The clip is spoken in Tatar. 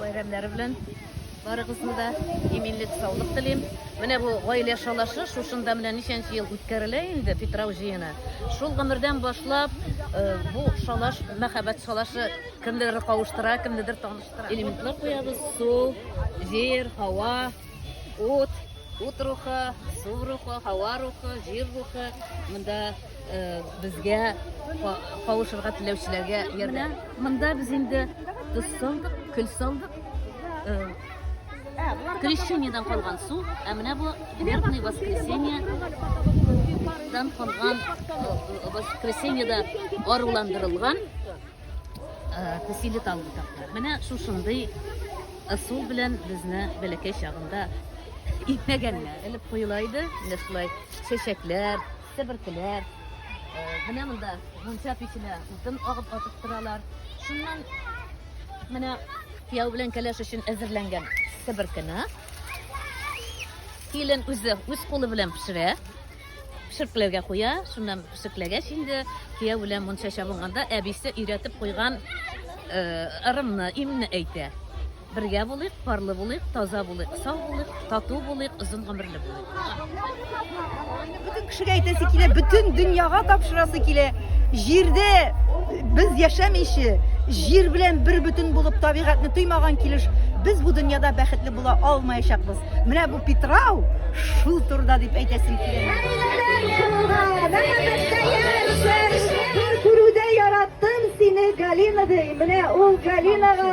бәйрәмнәре белән барыгызны да иминлек саулык телим менә бу гаилә шалашы шушында менә ничәнче ел үткәрелә инде питрау җыены шул гомердән башлап э, бу шалаш мәхәббәт шалашы кемнедер кавыштыра кемнедер таныштыра элементлар куябыз су җир һава ут ут рухы су рухы һава рухы җир рухы монда Э, безгә кавышырга теләүчеләргә ярдә. Монда без инде тоз салдык, көл салдык. Э, Крещениедан калган су, ә менә бу Верхний воскресенье дан калган э, воскресеньеда аруландырылган тәсиле тал ботаклар. Менә шушындый ысул белән безне бәләкәй чагында итмәгәннәр. Элеп куела иде, менә шулай чәчәкләр, Себеркеләр, менә монда мунча печенә утын агып атып торалар. Шуннан менә кияү белән кәләш өчен әзерләнгән себеркене килен үзе үз кулы белән пешерә пешеркләргә куя шуннан пешеркләгәч инде кияү белән мунча чабынганда әбисе өйрәтеп куйган ырымны имне әйтә Бергә булыйк, парлы булыйк, таза булыйк, сау булыйк, тату булыйк, озын гомерле булыйк. Бөтен кешегә әйтәсе килә, бөтен дөньяга тапшырасы килә. Җирдә без яшәмичә, җир белән бер бөтен булып табигатьне тоймаган килеш без бу дөньяда бәхетле була алмаячакбыз. Менә бу Питрау шул турыда дип әйтәсем килә. Күрүдә яраттым сине, Галина ди. Менә ул Галинага